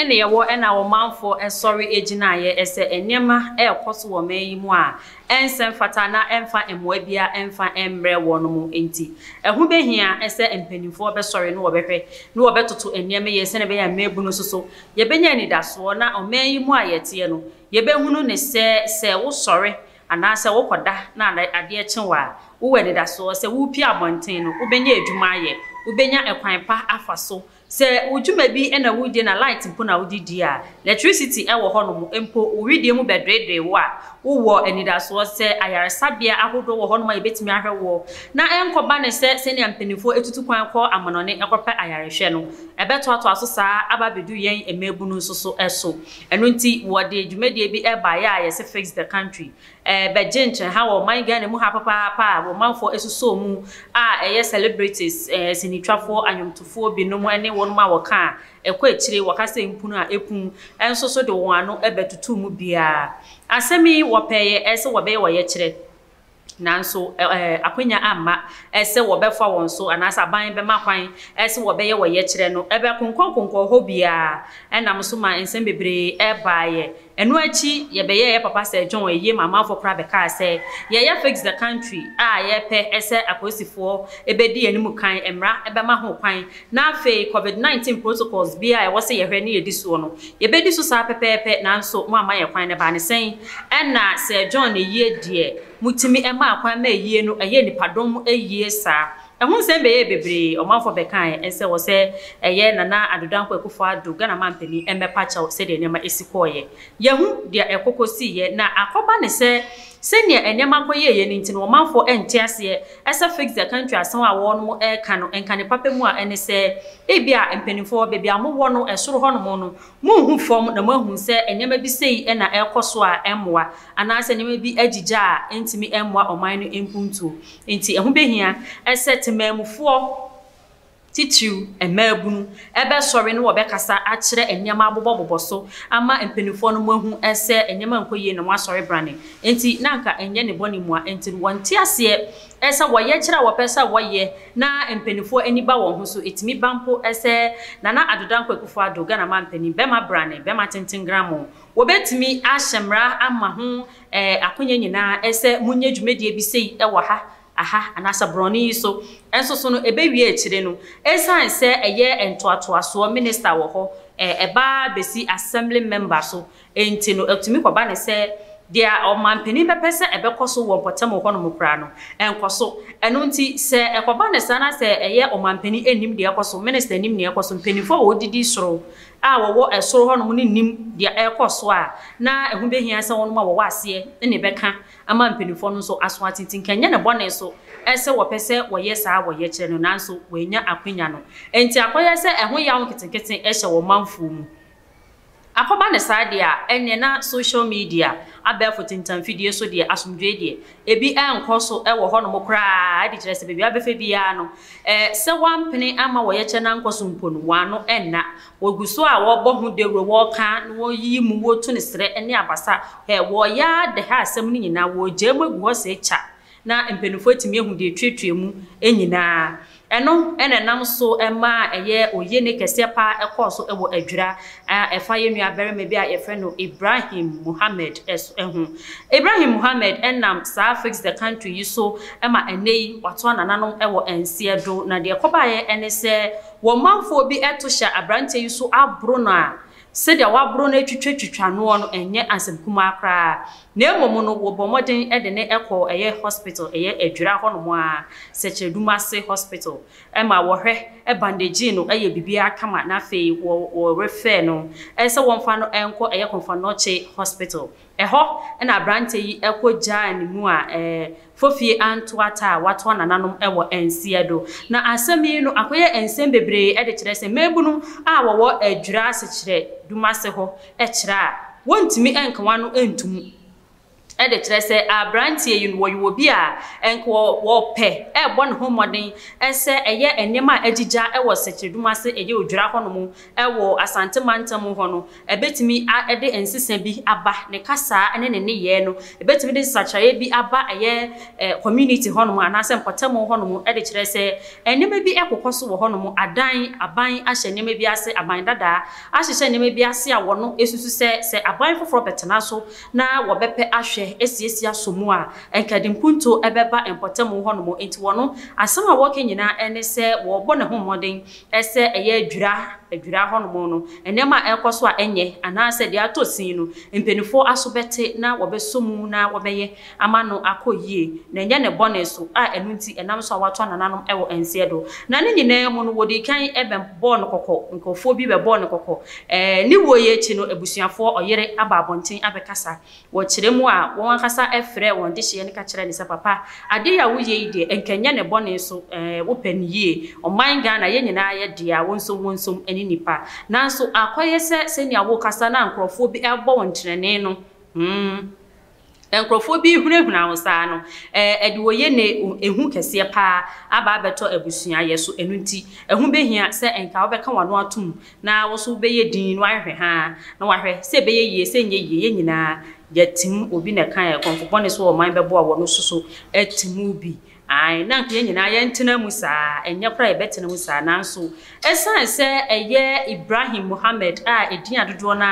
na yɛwɔ ɛna ɔmanfoɔ sɔre gyinaeɛ sɛ nneɛma ɛrekɔ so wɔ ɔman yi mu a ɛnsɛ mfata na ɛmfa mmoa biara mfa mmrɛ wɔn mo nti, ɛho bɛhia sɛ mpanimfoɔ bɛsɔre na wɔbɛhwɛ na wɔbɛtoto nneɛma yie sɛdeɛ ɛbɛyɛ a mmaabunu nso so yɛbɛnya anidasoɔ na ɔman yi mu a yɛteɛ no yɛbɛhunu ne sɛ sɛ wosɔre anaasɛ wokɔda na adeɛ kye wo a wowɔ anidasoɔ sɛ worepie abɔnten no wobɛnya adwuma ayɛ, wobɛnya ɛkwan pa afa so Sɛ wo dwuma bi na wodie na light mpo na wode die a, lɛtrisiti wɔ hɔnom mpo, wo wedeɛ mu bɛdweedwee wo a, wowɔ anidasoɔ sɛ ayaresabea ahodoɔ wɔ hɔnom a yɛbɛtumi ahwɛ woɔ, na ɛnkɔba no sɛ sɛnea mpanimfoɔ atutu kwan kɔ amanɔne kɔpɛ ayarehwɛ no, ɛbɛtoatoa so saa ara aba abɛdu yɛn mmaabunu nso so. Ɛno nti, wɔde dwumadie bi baeɛ a yɛse Fix the Country, Ɛrebɛgye nkyerɛha wɔ ɔman Ghana mu ha papaapa a wɔn manfoɔ asusoo mu a ɛyɛ celebrities, sinitwafoɔ, anwomtofoɔ binom ne wɔnom a wɔka a ɛkɔ akyire, wɔka sɛ mpunu a ɛpun nso so de wɔn ano bɛtoto mu biara. Asɛm yi wɔpɛeɛ sɛ wɔbɛyɛ ɔyɛkyerɛ nanso akwanya amma sɛ wɔbɛfa wɔn so anaasɛ aban bɛma kwan sɛ wɔbɛyɛ ɔyɛkyerɛ no. Ɛbɛkonkɔnkonkɔn hɔ biara nam so ma nsɛm bebree baeɛ. Ɛno akyi yɛbɛyɛɛ yɛ papa Sir John ayie ma amanfoɔ koraa bɛkaa sɛ yɛyɛ Fix the Country a yɛpɛ sɛ apolisifoɔ bɛdi yɛn mu kan, mmara bɛma ho kwan, na afei Covid 19 protocols biara a ɛwɔ sɛ yɛhwɛ ne yɛdi soɔ no, yɛbɛdi so saa pɛpɛɛpɛ, nanso moamma yɛn kwan. Na ɛbaa ne sɛn? Ɛnna Sir John ayie deɛ, motumi maa kwan ma ayie no yɛɛ nnipadɔm ayie saa. Ɛho nsɛm bɛyɛɛ bebree, ɔmanfoɔ bɛkaaɛ nsɛ wɔ sɛ ɛyɛ Nana Addo Dankwa Akufo Addo, Ghana Mampanin, mmɛpa kyɛw sɛdeɛ nneɛma ɛsi kɔeɛ. Yɛahu deɛ ɛkɔ kɔsiiɛ na akɔba ne sɛ sɛdeɛ nneɛma kɔyɛeɛ no nti no ɔmanfoɔ ɛnte aseɛ sɛ fix the country asɛm a wɔnom ɛreka no nka ne papa mu a ɛne sɛ ebia mpaninfoɔ baabi a mowɔ no ɛsoro hɔnom no monhu fam na moahu sɛ nneɛma bi sei na ɛrekɔ so a ɛmmoa anaasɛ nneɛma bi agyigya a ɛntumi mmoa ɔman no mpuntuo. Enti ɛho behia sɛ temanmufoɔ, titiriw mmaabunu, bɛsɔre na wɔbɛkasa akyerɛ nneɛma abobɔbobɔ so ama mpanimfoɔ no moahu sɛ nneɛma nkɔ yie na moasɔre brane. Enti na anka ɛnyɛ ne bɔne mua, enti no wɔnte aseɛ sɛ wɔyɛ kyerɛ a wɔpɛ sɛ wɔyɛ na mpanimfoɔ ani ba wɔn ho so. Ɛtumi ba mpo sɛ Nana Addo Dankwa Akufo-Addo, Ghana manpanin, bɛma brane, bɛma tenten gramoo, wɔbɛtumi ahyɛ mmara ama ho Ɛɛ, akonya nyinaa, ɛsɛ monyɛ dwumadie bi sei wɔ ha, aha, anaasɛ borɔno yi so. Nso so no, ɛbɛwie akyire no, ɛsiane sɛ ɛyɛ ntoatoasoɔ minister wɔ hɔ, ɛɛ, ɛba ara bɛsi assembly member so nti no, ɛtumi kɔba no sɛ, deɛ ɔmanpanin bɛpɛ sɛ ɛbɛkɔ so wɔ mpɔtam hɔ nom koraa no, ɛnkɔ so. Ɛno nti, sɛ ɛkɔba no saa na sɛ ɛyɛ ɔmanpanin nnim deɛ ɛkɔ so, minister nnim deɛ ɛkɔ so, mpanimfoɔ a wɔdidi soro a wɔwɔ soro hɔnom no nnim deɛ ɛrekɔ so a, na ɛho bɛhia sɛ wɔnom a wɔwɔ aseɛ na ɛbɛka ama mpanimfoɔ no nso aso ate. Nti nka ɛnyɛ ne bɔne nso sɛ wɔpɛ sɛ wɔyɛ saa a wɔyɛ kyerɛ no, nanso wɔannya akwanya no nti akɔyɛ sɛ ɛho yaw nketenkete hyɛ wɔn manfoɔ mu. Akɔba no saa deɛ a, ɛnneɛ na social media, abɛɛfo tentamfidie so deɛ, asomdwoeɛ deɛ, Ebi nkɔ so wɔ hɔnom koraa de kyerɛ sɛ baabi a wobɛfa biara no, sɛ wɔampene amma wɔyɛkyɛ no ankɔ so mpo no, wɔn ano nna. Wɔgu so a wɔbɔ ho dawuro, wɔka, na wɔyiyi mu, wɔtu no serɛ ne abasa. Hwɛ, wɔyɛ ara de ha asɛm no nyinaa, wɔregyaa mu agu hɔ sɛ kya, na mpanimfoɔ atumi ahu deɛ ɛretuatua mu nyinaa. Ɛno na ɛnam so maa ɛyɛ oye ne kɛseɛ pa ara kɔɔ so wɔ adwira a ɛfa yɛn nua barima bi a yɛfrɛ no Ibrahim Muhammad so ho. Ibrahim Muhammad nam saa Fix the Country yi so ma ɛnnɛ yi wato anananom wɔ nseɛ do. Na deɛ ɛkɔbaeɛ ne sɛ wɔn manfoɔ bi to hyɛ aberanteɛ yi so aboro no a Sɛdeɛ wɔaboro no atwitwatwitwa noɔ no nyɛ asɛm kumaa koraa, na mmom no wɔbɔɔ mmɔden de no kɔɔ ɛyɛ hospital, ɛyɛ Adwira hɔnom ara, Sɛkyerɛdumase Hospital, ɛma wɔhwɛ, bandagyee no, ɛyɛ biribiara kama, na afei wɔ, wɔrefɛɛ no sɛ wɔmfa no nkɔ ɛyɛ Komfo Anokye Hospital, Ɛhɔ na aberanteɛ yi kɔ gyaa ne mu a ɛɛ fofie anto ata a watoa nananom wɔ nseɛ do. Na asɛm yi no akɔyɛ nsɛm bebree de kyerɛ sɛ mmaabunum a wɔwɔ adwira asekyerɛ dumase hɔ kyerɛ a wɔntumi nka wɔn ano ntom de kyerɛ sɛ aberanteɛ yi no wɔyɛ obi a nka wɔ wɔpɛ rebɔ ne ho mmɔden sɛ ɛyɛ nneɛma a agyigya wɔ sekyere dumase ɛyɛ odwira hɔ nom wɔ Asante mantam hɔ no, ɛbɛtumi de nsesa bi aba, ne kasaa ne ne nneyɛɛ no, ɛbɛtumi de nsakyeraeɛ bi aba ɛyɛ community hɔ nom anaa sɛ mpɔtamu hɔ nom de kyerɛ sɛ nneɛma bi rekokɔ so wɔ hɔ nom, adan, aban ahyɛ nneɛma bi ase, aban dadaa ahyehyɛ nneɛma bi ase a wɔn susu sɛ, sɛ aban foforɔ bɛtena so na wɔbɛpɛ ahwɛ asiesie asɔ mu a, nka ɛde mpuntuo bɛba mpɔtamu hɔ nom, nti wɔn asɛm a wɔreka nyinaa ne sɛ wɔrebɔ ne ho mmɔden sɛ ɛyɛ adwira adwira hɔnom no, nneɛma a ɛrekɔ so a ɛnyɛ, anaasɛ deɛ atɔ sin no, mpanimfoɔ aso bɛte na wɔbɛsɔ mu na wɔbɛyɛ ama no akɔ yie, na ɛnyɛ ne bɔne so, a ɛno nti ɛnam so a wɔatoa nananom wɔ nseɛ do. Na ne nyinaa mu no, wɔdii kan bɛbɔɔ no kɔkɔ, nkurɔfoɔ bi bɛbɔɔ no kɔkɔ. Ne wuo yi akyi no, abusuafoɔ, ɔyere aba abɔnten abɛkasa Wɔkyerɛ mu a, wɔn ankasa frɛɛ wɔn dehyeɛ no ka kyerɛɛ no sɛ, Papa, adeɛ yi a woyɛ yi deɛ, nka nyɛ ne bɔne so, ɛɛ, wopɛ no yie. Ɔman Ghana, yɛn nyinaa yɛ dea, wo nso wo nso ne nnipa. Nanso akɔyɛ sɛ sɛnea worekasa na nkorɔfoɔ bi rebɔ wo ntenenee no, hmm, nkorɔfoɔ bi rehunahuna wo saa no, ɛɛ, ɛde oyene, ehu kɛseɛ pa ara aba abɛtɔ abusua yɛ so. Ɛno nti, ɛho bɛhia sɛ nka wobɛka w'ano atom na wo nso wobɛyɛ din na wahwehwɛ haa na wahwɛ sɛ ɛbɛyɛ yie sɛ ɛnyɛ yie, yɛn nyinaa yɛatim, obi na ɛkaeɛ, kɔmfo bɔne so ɔman bɛboa wɔn nso so atim bi, ae, na anka yɛn nyinaa yɛntena mu saa, ɛnyɛ koraa yɛbɛtena mu saa, nanso ɛsiane sɛ ɛyɛ Ibrahim Mohammed a ɛdin a dodoɔ no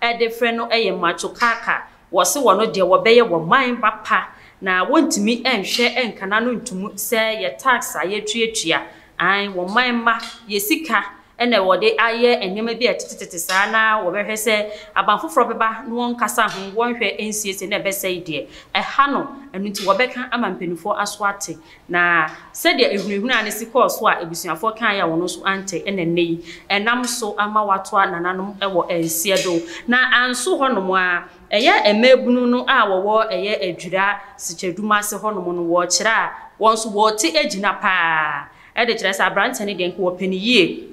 ara de frɛ no yɛ Macho Kaka Wɔse wɔno deɛ wɔbɛyɛ wɔ man ba pa na wɔntumi nhwɛ nkana no ntomu sɛ yɛ tax a yɛtuatua ae wɔ man mma yɛ sika na wɔde ayɛ nneɛma bi a ɛtetetete saa na wɔbɛhwɛ sɛ aban foforɔ bɛba na wɔnkasa ho wɔnhwɛ nsiesie na ɛbɛsɛe deɛ ɛha no ɛno nti wɔbɛka ama mpaninfoɔ aso ate Na sɛdeɛ ahunahuna no si kɔɔ so a abusuafoɔ kaeɛ a ɔno nso ante na ɛnnɛ yi ɛnam so ama watoa nananom wɔ nseɛ do. Na anso hɔ nom ara, ɛyɛ mmaabunu no a wɔwɔ ɛyɛ Adwira Sikyɛdum ase hɔ nom no wɔkyerɛ a wɔn nso wɔte agyina pa ara de kyerɛ sɛ aberanteɛ no deɛ nka ɔpɛ no yie.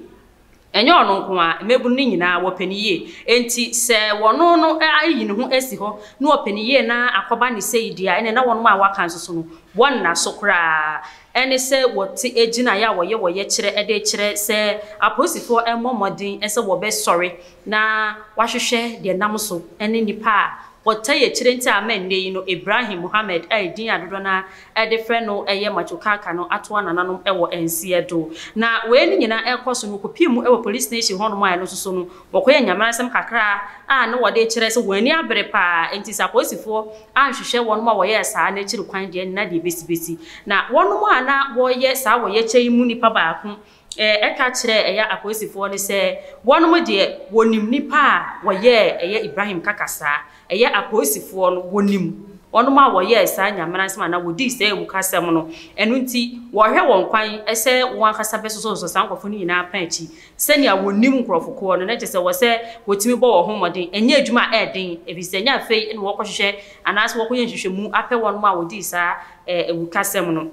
Ɛnyɛ ɔno nko ara, mmabunu no nyinaa, wɔpɛ no yie. Enti sɛ ɔno no ayi ne ho asi hɔ na ɔpɛ no yie na akɔba ne sei deɛ a, ɛnneɛ na wɔn a wɔaka nso so no, wɔnna so koraa. Ɛne sɛ wɔte gyinaeɛ a wɔyɛ wɔyɛ kyerɛ de rekyerɛ sɛ apolisifoɔ mmɔ mmɔden sɛ wɔbɛsɔre na wɔahwehwɛ deɛ nam so ne nnipa a wɔtaa yɛ akyire nti a ama nnɛ yi no Ibrahim Muhammad a ɛdin a dodoɔ no ara de frɛ no yɛ Macho Kaka no atoa nananom wɔ nseɛ do. Na wei no nyina rekɔ so no, wɔkɔpie mu wɔ police station hɔnom a ɛno nso so no, wɔkɔyɛ nyameransɛm kakra a ne wɔde rekyerɛ sɛ wɔn ani abere pa ara. Enti sɛ apolisifoɔ anhwehwɛ wɔnom a wɔyɛɛ saa no akyiri kwan deɛ, na deɛ ɛbɛsi bɛsi. Na wɔnom a na wɔreyɛ saa wɔyɛkyɛ yi mu nipa baako Ɛɛ, ɛka kyerɛɛ ɛyɛ apolisifoɔ no sɛ wɔnom deɛ wɔnim nipa a wɔyɛɛ ɛyɛ Ibrahim Kaka saa. Ɛyɛ apolisifoɔ no wɔnim wɔnom a wɔyɛɛ saa Nyameransɛm anaa wɔdii saa awukasɛm no, ɛno nti wɔrehwɛ wɔn kwan sɛ wɔn ankasa bɛsosɔsosɔ saa nkorɔfoɔ no nyinaa apã akyi sɛnea wɔnim nkorɔfo korɔ no, na kyerɛ sɛ wɔsɛ wɔtumi bɔ wɔn ho mmɔden. Ɛnyɛ adwuma a ɛyɛ den, ɛfiri sɛ ɛnyɛ afei na wɔrekɔhwehwɛ anaasɛ wɔrekɔyɛ nhwehwɛmu apɛ wɔnom a wɔdii saa ɛɛ awukasɛm no.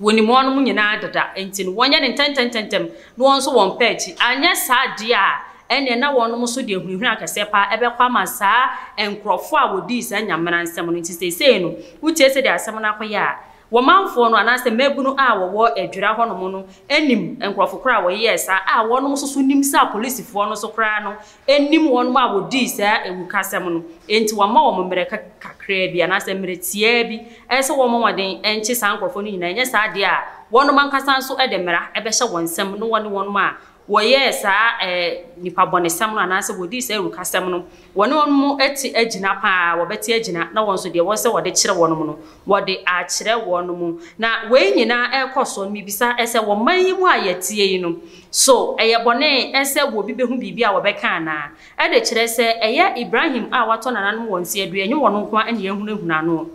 Wɔnim wɔnom nyinaa deda, enti no wɔnyɛ no ntɛmntɛmntɛmntɛm na wɔn nso wɔmpa akyi, anyɛ saa deɛ a ɛnneɛ na wɔnom nso de ahunahuna kɛseɛ pa ara bɛkɔ ama saa nkorɔfoɔ a wɔdii saa nyamena nsɛm no, enti seesei no wotie sɛdeɛ asɛm no akɔyɛ a, wɔmanfoɔ no anaasɛ mmabunu a wɔwɔ Adwira hɔnom no nim nkorɔfo korɔ a wɔyɛɛ saa a wɔnom nso so nim sɛ apolisifoɔ no nso koraa no nnim wɔn a wɔdii saa awukasɛm no, enti wɔama wɔn mmerɛ kakraa bi, anaasɛ mmerɛ tiaa bi, ɛyɛ sɛ wɔmmɔ mmɔden nkye saa nkorɔfoɔ no nyinaa, ɛnyɛ saa deɛ a wɔnom ankasa nso de mmara bɛhyɛ wɔn nsam, ne wɔne wɔn a wɔyɛɛ saa nipabɔnesɛm no, anaasɛ wɔdii saa awukasɛm no, wɔne wɔnom te agyina pa ara, wɔbɛte agyina, na wɔn nso deɛ wɔsɛ wɔde kyerɛ wɔnom no, wɔde akyerɛ wɔnom. Na wei nyinaa rekɔ soɔ no, mebisa sɛ, wɔ man yi mu a yɛteɛ yi no, So ɛyɛ bɔne sɛ obi behu biribi a wɔbɛka anaa? Ɛde kyerɛ sɛ ɛyɛ Ibrahim a watɔ nananom wɔn se adua, ɛnyɛ wɔn nko ara na yɛahunahuna no.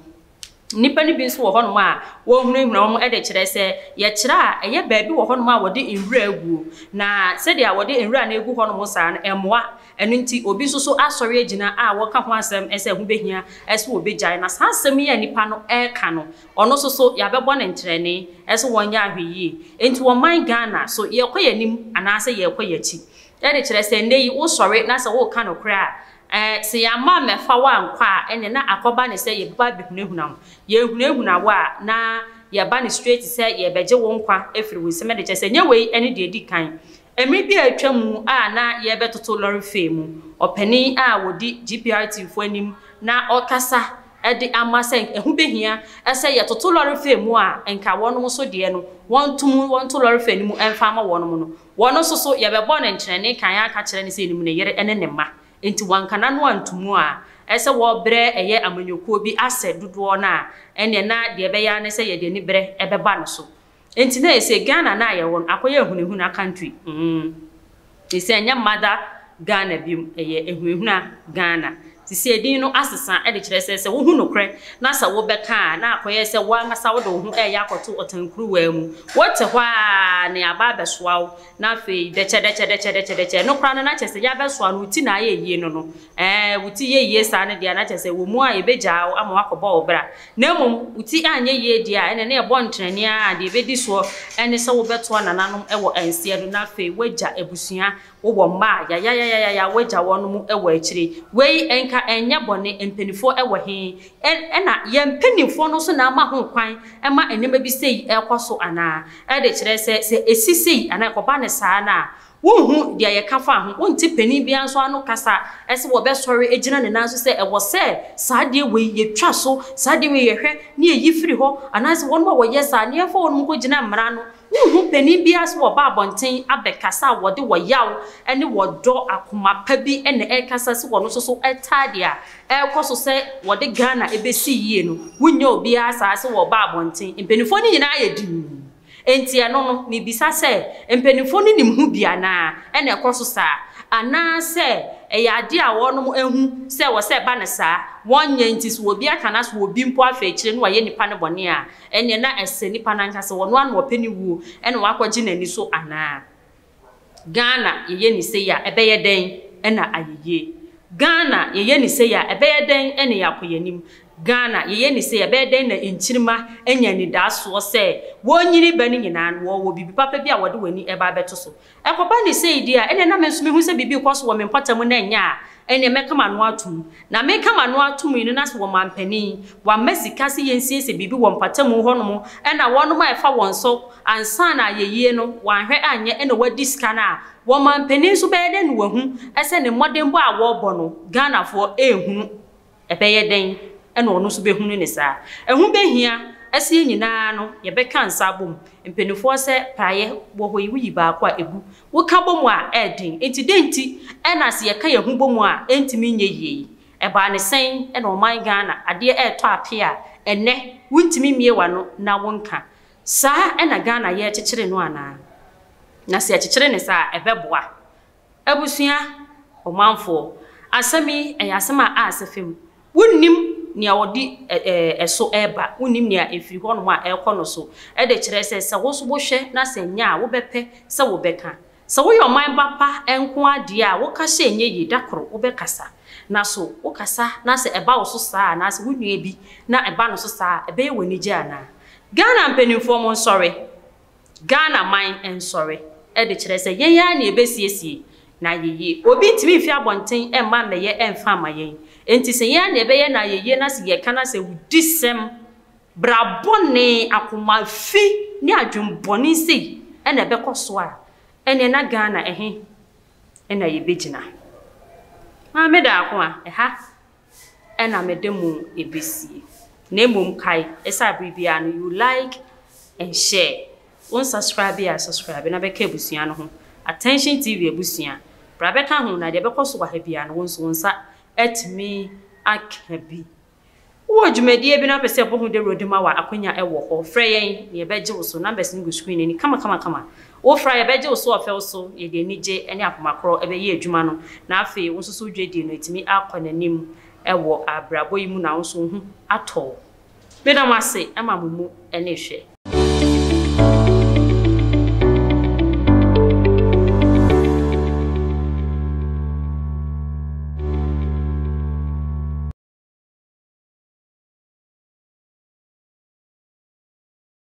Nnipa no bi nso wɔ hɔnom a wɔhunahuna wɔn, ɛde kyerɛ sɛ yɛkyerɛ a, ɛyɛ baabi wɔ hɔnom a wɔde nwura aguo, na sɛdeɛ wɔde nwura no agu hɔnom saa no, ɛmmoa. Ɛno nti, obi nso so asɔre agyina a wɔka ho asɛm sɛ ɛho bɛhia sɛ wɔbɛgyae. Na saa asɛm yi a nnipa no reka no, Ɔno nso so yɛabɛbɔ no ntrɛnee, ɛso wɔnyɛ ahwɛyie. Enti wɔ man Ghana, so yɛrekɔ yɛn anim anaasɛ yɛrekɔ yɛn akyi? Ɛde kyerɛ sɛ nnɛ yi wosɔre na sɛ woreka nokorɛ a, ɛɛ, sɛ yɛamma ammɛfa wo ankɔ a, ɛnneɛ na akɔba no sɛ yɛbɛba abɛhunahuna wo. Yɛhunahuna wo a, na yɛba no straight sɛ yɛrebɛgye wo nkwa afiri wo nsam. Ɛde kyerɛ sɛ nyɛ wei ne deɛ ɛdi kan. Mmere bi a atwam mu a na yɛrebɛtoto lɔre fee mu, ɔpanyin a odi GPRTfo anim na ɔrekasa de ama sɛ ɛho behia sɛ yɛtoto lɔre fee mu a nka wɔnom nso deɛ no wɔnto mu wɔnto lɔre fee no mu mfa mma wɔnom no, wɔn nso so yɛbɛbɔ no nkyerɛnne kan aka akyerɛ no sɛ enim ne yere ne ne mma nti wanka n'ano anto mu a ɛsɛ wɔbrɛ ɛyɛ amanyɔkuo bi asɛ dodoɔ no a ɛneɛ na deɛ ɛbɛyɛ ara ne sɛ yɛde aniberɛ bɛba no so. Enti na ayɛ sɛ Ghana no a yɛwɔ no akɔyɛ ahunahuna country mm te sɛ ɛnyɛ mother Ghana biom ɛyɛ ahunahuna Ghana te sɛ edin no asesa de kyerɛ sɛ sɛ wohu nokorɛ na sɛ wobɛka a na akɔyɛ sɛ wo ankasa wode wo ho reyɛ akɔto ɔtan kuruwaa mu wote hɔ a ne aba abɛsoa wo na afei dɛkyɛdɛkyɛdɛkyɛdɛkyɛdɛkyɛ ɛno koraa no na kyerɛ sɛ yɛabɛsoa no wo ti na ayɛ ayie no no Ɛɛ, wo ti yɛ yie saa no deɛ a, na kyerɛ sɛ ɛwɔ mu a yɛbɛgyaa wo ama woakɔbɔ wo bra. Na mmom, wo ti anyɛ yie deɛ a, ɛnneɛ na ɛbɔ ntrɛni ara a deɛ ɛbɛdi soɔ ne sɛ wobɛtoa nananom wɔ nseɛ do na afei woagya abusua, wowɔ mma a, yayayayaya, woagya wɔn wɔ akyire. Wei, nka ɛnyɛ bɔne? Mpanimfoɔ wɔ he? Ɛ, ɛna yɛn mpanimfoɔ no nso na ama ho kwan ma nneɛma bi sei rekɔ so anaa? Ɛde kyerɛ sɛ, sɛ ɛsi sei anaa ɛkɔba no saa no a, Wonhu deɛ yɛka fa ho, wonte panin biara nso ano kasa sɛ wɔbɛsɔre agyina ne nan so sɛ ɛwɔ sɛ saa adeɛ wei yɛtwa so, saa adeɛ wei yɛhwɛ na yɛyi firi hɔ, anaasɛ wɔnom a wɔyɛ saa no yɛmfa wɔnom nkɔgyina mmara ano. Wonhu panin biara sɛ wɔba abɔnten abɛkasa a wɔde ɔyaw ne ɔdɔ akoma pa bi na ɛrekasa sɛ wɔno nso so taa deɛ a ɛrekɔ so sɛ wɔde Ghana bɛsi yie no, wonnya obiara saa sɛ wɔba abɔnten. Mpanimfoɔ no nyinaa ayɛ dinn. Enti ɛno no, mebisa sɛ, mpanimfoɔ no nim ho bi anaa? Ɛna ɛkɔ so saa? Anaasɛ ɛyɛ adeɛ a wɔnom ahu sɛ ɛwɔ sɛ ɛba no saa, wɔnyɛ nti so obi aka no ase wɔ obi mpo afɛ akyire na wayɛ nipa no bɔne a, ɛneɛ na ɛsɛ nipa no ankasa wɔno ara na ɔpɛ ne wuo na wakɔgye n'ani so anaa? Ghana yɛyɛ ni sei a ɛbɛyɛ dɛn na ayɛ yie? Ghana yɛyɛ ni sei a ɛbɛyɛ dɛn na yɛakɔ yɛn anim? Ghana yɛyɛ ni sei a ɛbɛyɛ dɛn na nkyirimma anya anidaasoɔ sɛ wɔnyini bɛ no nyinaa no wɔwɔ biribi papa bi a wɔde wɔn ani reba abɛto so? Ɛkɔba no sei deɛ a ɛnneɛ na me nso mehu sɛ biribi rekɔ so wɔ me mpɔtam na ɛnyɛ a Ɛnneɛ mɛka m'ano atom. Na meka m'ano atom yi no, na sɛ ɔmampanin wamma sika sɛ yɛnsiesie biribi wɔ mpatamu hɔnom na wɔnom a ɛfa wɔn so ansa na ayɛyie no, wanhwɛ anyɛ na wadi sika no a, ɔmampanin nso bɛyɛ dɛn na wahu sɛ ne mmɔdenbɔ a wɔrebɔ no, Ghanafoɔ, ɛrehunu? Ɛbɛyɛ dɛn na ɔno nso bɛhunu no saa? Ɛho bɛhia sɛ yɛn nyinaa no yɛbɛka nsa abom. Mpanimfoɔ sɛ, Praeɛ wɔ hɔ yi, woyi baako a, ɛgu. Woka bɔ mu a, ɛyɛ den. Enti dɛn nti na sɛ yɛka yɛn ho bɔ mu a, ɛntumi nyɛ yie yi? Ɛbaa no sɛn na ɔman Ghana adeɛ retɔ apee a, ɛnnɛ wontumi mmue w'ano na wonka? Saa na Ghana yɛ kyekyere no anaa? Na sɛ yɛkyekyere no saa a, ɛbɛboa Abusua, ɔmanfoɔ, asɛm yi, ɛyɛ asɛm a aasɛ fam. Wonnim nea wɔde ɛso reba, wonnim nea ɛfiri hɔnom a ɛrekɔ no so. Ɛde kyerɛ sɛ, sɛ wo nso wohwɛ na sɛ ɛnyɛ a, wobɛpɛ sɛ wobɛka. Sɛ woyɛ ɔman ba pa nko ara deɛ a, woka sɛ ɛnyɛ yie, da koro wobɛkasa. Na so wokasa na sɛ ɛba wo so saa a, anaasɛ wo nua bi na ɛba no so saa a, ɛbɛyɛ wo anigye anaa? Ghana mpanimfoɔ, monsɔre! Ghana man nsɔre de kyerɛ sɛ yɛn ara na yɛbɛsiesie no ayeyie. Obi ntumi mfiri abɔnten mma mmɛyɛ mfa mma yɛn. Enti sɛ yɛn ara na yɛbɛyɛ no ayeyie na sɛ yɛka no a sɛ awudisɛm, bra bɔne, akoma fi ne adwene bɔne sei na ɛbɛkɔ so a, ɛnneɛ na Ghana ɛhe na yɛbɛgyina? Maame Daako a, ɛha na mede mo besie. Na mmom kae sɛ abere biara no you like and share, wo nsascribe a subscribe na bɛka abusua no ho. Attention TV abusua bra bɛka ho na deɛ ɛbɛkɔ so wɔ ha biara no wo nso wo nsa atumi aka bi. Wowɔ dwumadie bi na wopɛ sɛ yɛbɔ ho dawuro de ma wo a akwanya wɔ hɔ, frɛ yɛn na yɛbɛgye wo so. Numbers no gu screen no ani kamakamakama. Wo fra a yɛbɛgye wo so ɔfɛw so, yɛde anigye ne akoma koro bɛyɛ adwuma no, na afei wo nso so wo dwadie no atumi akɔ n'anim wɔ abrabɔ yi mu na wo nso wo ho atɔ wo. Meda mo ase ma mo mu ne hwɛ.